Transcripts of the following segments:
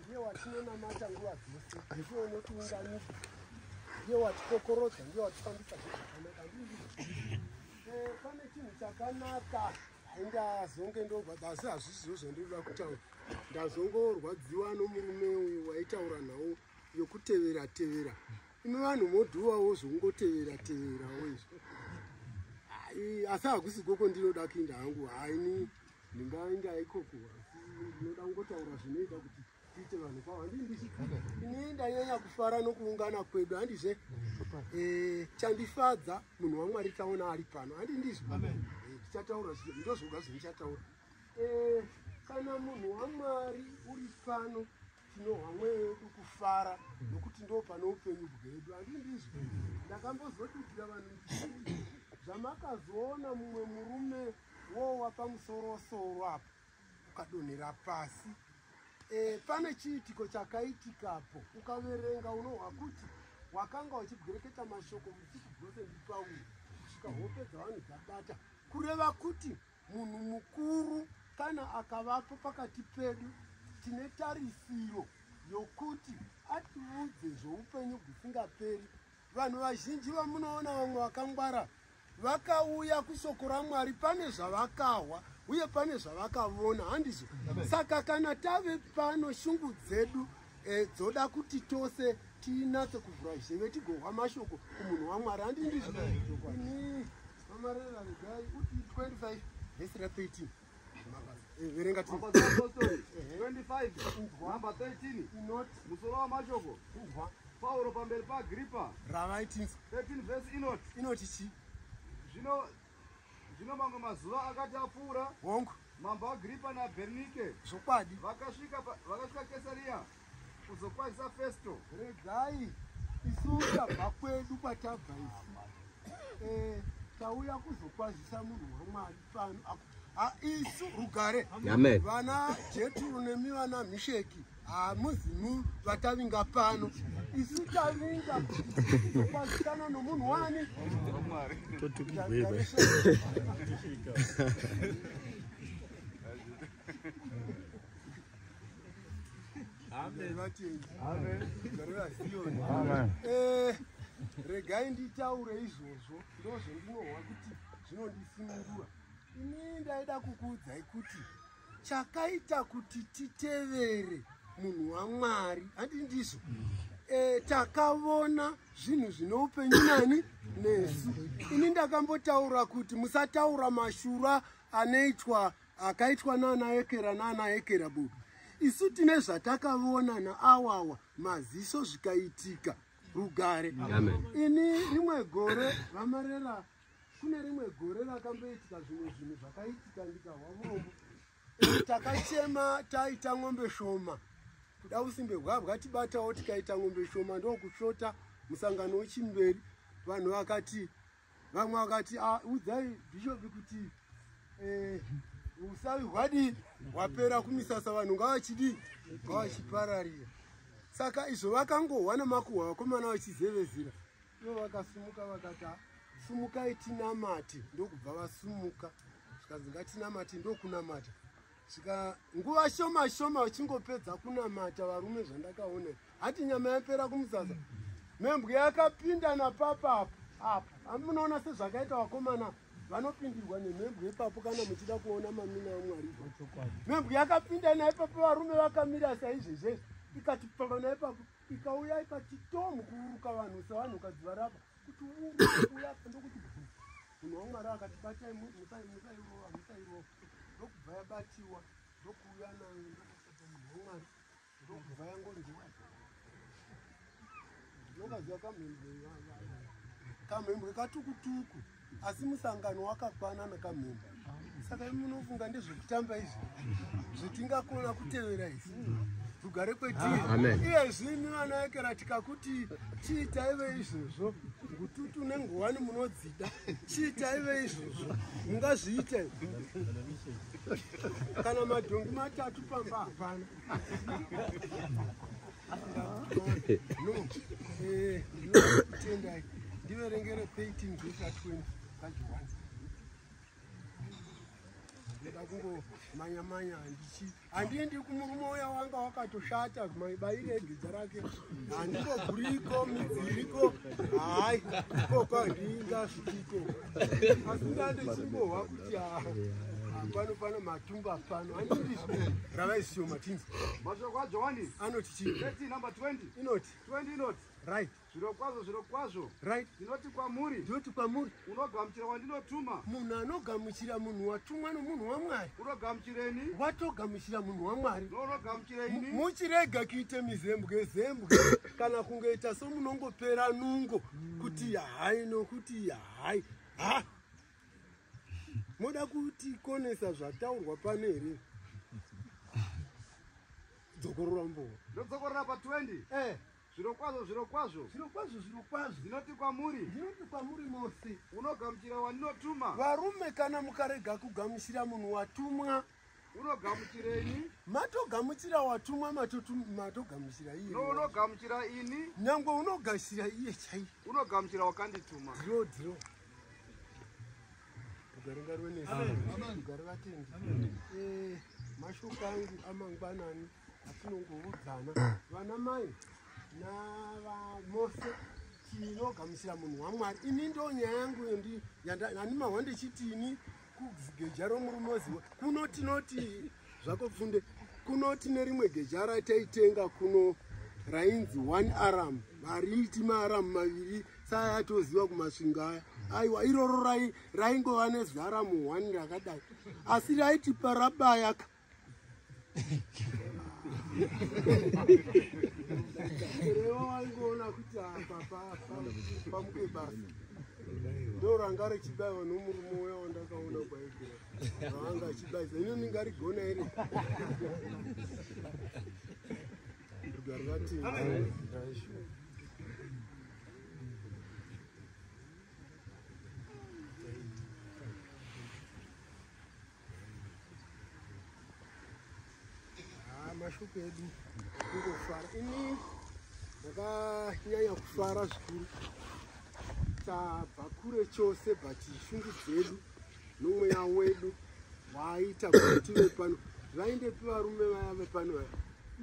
ndiye watinonamata nguva dzese ndiye unotiunganisa ndiye watikokorodza ndiye watifambisa zvakanaka eh, pane chinhu chakanaka ndazonge ndorwadza asi hazvizvo zvandinoda kutaura ndazongorwadziwa nomurume uyu waitaura nhau yokutevera tevera imi vanhu modhuwawo zvokungotevera teverawo izvo asi hakusi koko ndinoda kuinda hangu haini ndingainga ikoko asi ndinoda kungotaura zvinoita kuti tiite vanhu kwavo handii ndichi ini ndanyanya kufara nokuungana kwedu handizve eh, chandifadza munhu wamwari taona ari pano handii ndizvo eh, ndichataura ndozvoga zvinichataura eh, kana munhu wamwari uri pano tinohwa mweya wedu kufara nokuti ndo pane upenyu bwedu handii ndizvo ndakambozodudira vanhu zvamakazoona mumwe murume wo wapamusoro soro apo ukadonhera pasi e, pane chiitiko chakaitikapo ukaverenga unohwa kuti wakanga uchibwereketa mashoko musiku bwose ndipauri kusvika hope dzavanhu dzabata kureva kuti munhu mukuru kana akavapo pakati pedu tine tarisiro yokuti atiudze zvoupenyu gusingaperi vanhu vazhinji vamunoona vamwe vakangwara vakauya kushoko ramwari pane zvavakahwa uye pane zvavakavona handizvo saka kana tave pano shungu dzedu eh, dzoda kuti tose tinatse kuvhura zheve tigohwa mashoko kumunhu wamwari handi ndizvo mamarera regai uti 25 vhesi ra 13 verenga tu number 25 number 13 not musoro wa mashoko kubva pauro pamberi pa gripa ravaitinzi 13 verse inot inot chi zvino zvino mamwe mazuva akati apfuura hongu mambo agripa nabernike zvokwadi vakasvika vakasvika kesariya kuzokwanisa festo regai isu tabva kwedu kwatabva isu eh, tauya kuzokwazisa munhu wamwari pano ah, isu rugare vana jeturu nemi vana misheki hamuzimu vatavinga pano isu tavinga kukwazisana nomunhu wani Amen. Amen. Amen. Eh, regai nditaure izvozvo ndozvendinohwa kuti zvinondisunungura ini ndaida kukuudzai kuti chakaita kuti titevere munhu wamwari handi ndizvo e, takavona zvinhu zvine upenyu nani nesu ini ndakambotaura kuti musataura mashura anoitwa akaitwa nana ekera nana ekera bobi isu tine zvatakavona naawawa maziso zvikaitika rugare ini rimwe gore vamarera kune rimwe gore rakamboitika zvimwe zvinhu zvakaitika ndikahwavombo takachema taita ng'ombe shoma kuda usimbe hwabwa tibatawo tikaita ng'ombe shoma ndokushota musangano wechimberi vanhu vakati vamwe vakati ah, udzai bhishopi kuti eh, usavi hwadii hwapera kumisasa vanhu ngavachidii ngavachipararira saka izvo vakangohwa nemakuhwa vakomana vachizevezira ivo vakasumuka vakati ah, sumukai tinamate ndokubva vasumuka zvikanzi ngatinamate ndokunamata saka nguva shoma shoma uchingopedza kunamata varume zvandakaona hati nyama yapera kumuzaza membwe yakapinda napapa apo apo handi munoona sezvakaita vakomana vanopindirwa nemhembwe ipapo kana muchida kuona mamina amwari mhembwe yakapinda naipapo varume vakamira saizvezvezvi ikati pamba naipapo ikauya ikati tomu kuuruka vanhu sevanhu ukadziva rapa kuti uuya ndokuti munhu wamwari akati batai musairoa musairoa ndokubva yabatiwa ndokuuya nayo ndokasata munhu wamwari ndokubva yangondiwa ndinokaziva kamhembwe kamhembwe katukutuku asi musangano wakakwana nakamhembwe saka munofunga ndezvekutamba izvi zvetingakona kutevera izvi tugare kwetiri iye zvini vana yekera tikakuti chii taive izvezvo ngututu nengowani munodzi chiitaive izvozvo mungazviite kana madhongi matatu pamba hapana tendai ndiverengere 13 vesa 20 kajiwani ndoda kungomanyamanya ndichi handiendi kumurume uya wanga wakatoshata maibaire egidza rake handingoguriko midziriko hai ikoko handingasviko asi ndandechimbohwa kuti ha pano pano matumba pano andii ravaisio matinzi mashoko ajohani anoti chii inoti right Zvirokwazvo, zvirokwazvo, right, ndinoti kwamuri, ndinoti kwamuri, unogamuchira wandinotuma. Munhu anogamuchira munhu watumwa nomunhu waMwari, unogamuchireni, watogamuchira munhu waMwari, nounogamuchira ini. Muchirega kuita mizembwe zembwe kana kungoita somunongopera nungo kuti yahai nokuti yahai ha moda kutikonesa zvataurwa pano here dzokorora mbowa ndodzokorora pa 20 eh Zvirokwazvo, zvirokwazvo. Zvirokwazvo, zvirokwazvo. Ndinoti kwamuri. Ndinoti kwamuri mose. Unogamuchira wandinotuma. Varume kana mukarega kugamuchira munhu watumwa. Unogamuchireni. Matogamuchira watumwa matogamuchira iye. No, unogamuchira ini. Nyangwe unogashira iye chaiye. Unogamuchira wakandituma. Dhiro, dhiro. Ugare ngaruwe nesi. Amen. Ugare vatendi. Amen. Eh, mashoko angu amangwanani. atinongoudzana vana mai navamose tinogamuchira munhu wamwari ini ndo nyaya yangu yandimahwa ndichitini kugeja romurume oziwa kuno tinoti zvako pfunde kuno tine rimwe geja rataitenga kuno rainzi one aram variiti maaram maviri saa atoziva kumasvinga aya aiwa iroro raingova nezaramu one rakadai asi raitipa rabayaka Rewa waingoona kuti apa papa pamuke basa ndoranga richibaiwa nomurume uya wandakaona kwaigera raanga achibaisa ino ndingarigona here rugari vati Ah, mashoko edu kungofara ini ndakanyanya kufara zvikuru tabva kure chose but shungu dzedu nomweya wedu waaita kuti tive pano zvaindepi varume vaya vepano vaya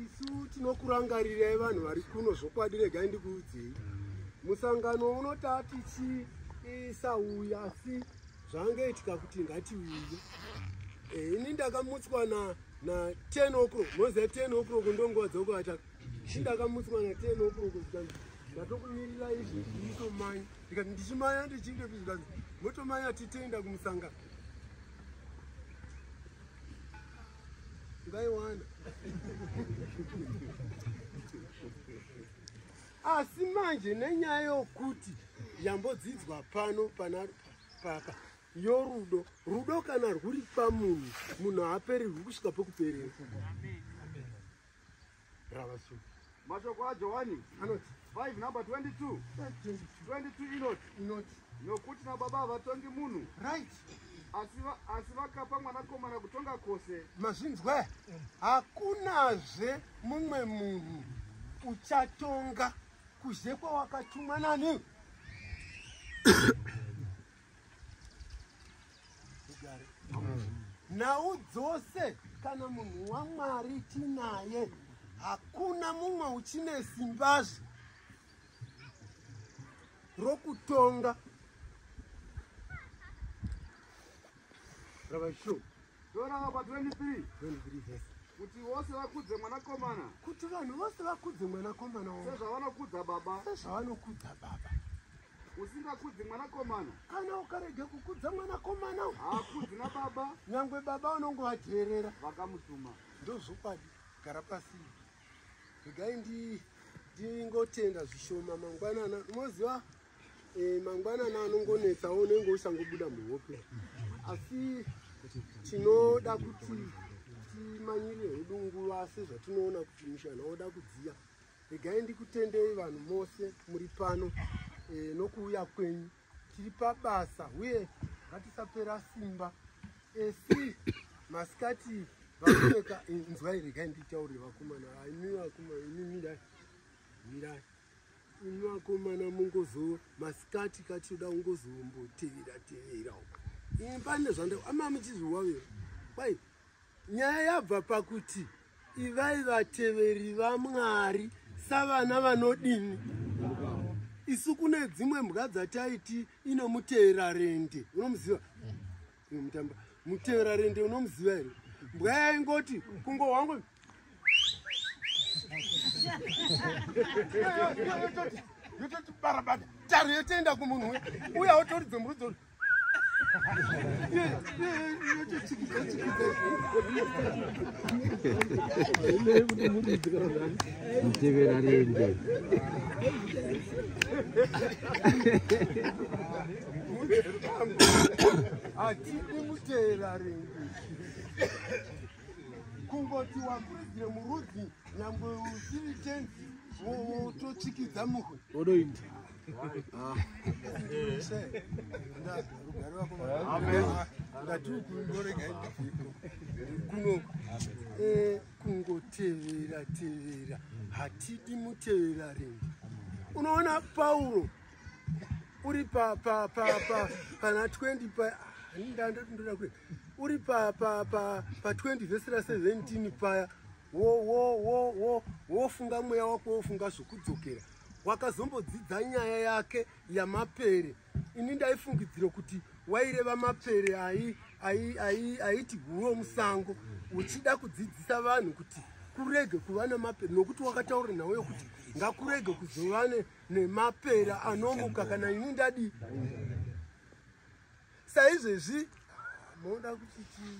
isu tinokurangarirai vanhu vari kuno zvokwadi regai ndikuudzei musangano unotatichiisauya asi zvanga itika kuti ngatiuye eh, ini ndakamutswa na na 10 o'clock moziva 10 o'clock ndonguva dzokuvata i ndakamutswa na 10 o'clock zvikanzi ndatokumirira izvi nditomanya ndikati ndichimanya ndichinge pi zvikanzi motomanya titenda kumusangano ngaiwana asi manje nenyaya yokuti yambodzidzwa pano pana papa yo rudo rudo kana rwuri pamunhu munhu haaperirwi kusvika pekuperera ravasu mashoko ajohani anoti 5 number 22 22 inoti inoti nokuti nababa havatongi munhu right asi vakapa mwanakomana kutonga kwose mazvinzwa hakunazve mumwe munhu uchatonga Kuze kwawakatumwa nani? nhau dzose kana munhu wamwari tinaye hakuna mumwe uchine simbazve rokutonga ravashu Dora vapa 23 kuti vose vakudze mwanakomana kuti vanhu vose vakudze mwanakomana wavo sezvavanokudza baba sezvavanokudza baba usingakudzi mwanakomana kana ukarega kukudza mwanakomana haakudzi nababa nyangwe baba unongovateerera vakamutuma ndozvokwadi gara pasi regai ndingotenda zvishoma mangwanana unoziva Eh, mangwanana anongonetsa unenge usangobuda muhope asi tinoda kuti timanyirire hedu nguva sezvatinoona kuti mushana woda kudziya regai ndikutendei vanhu mose muri pano e, nokuuya kwenyu tiri pabasa uye ngatisapera simba esi masikati vaoneka eh, nzwai regai nditaurire vakomana aimi vakomana imi mirai mirai Vakomana mungozo masikati kati yoda kungozombotevera tevera uko. Ini pane zvandau ama muchizviwavira. Kwai nyaya yabva pakuti ivai vateveri vaMwari savana vanodini isu kune dzimwe mbwa dzataiti inomuteera rende unomuziva mutamba mutevera rende unomuziva here mbwa yaingoti kungo wangu yototi barabada taro yotoenda kumunhu we uya wotoridze murudzo mutevera rende hatidi mutera rengi kungoti wakuridire murudzi nyangwe usiri tenzi wototsikidza muhwe odoita kuno eh, kungotevera tevera hatidi mutevera rengi unoona pauro uri pa pa pa pa pana 20 pa hani ndandoti ndoda kuenda uri pa pa pa pa 20 vhesi ra 17 paya wo wo wo wo wofunga mweya wako wofunga zvokudzokera wakazombodzidza nyaya yake yamapere ini ndaifungidzira kuti waireva mapere ayi ayi ayi ayiti guwo musango uchida kudzidzisa vanhu kuti kurege kuva nemapere nokuti wakataura nhau yokuti ngakurege kuzovane nemapera anomuka kana ini ndadi saizvezvi moda kuti chii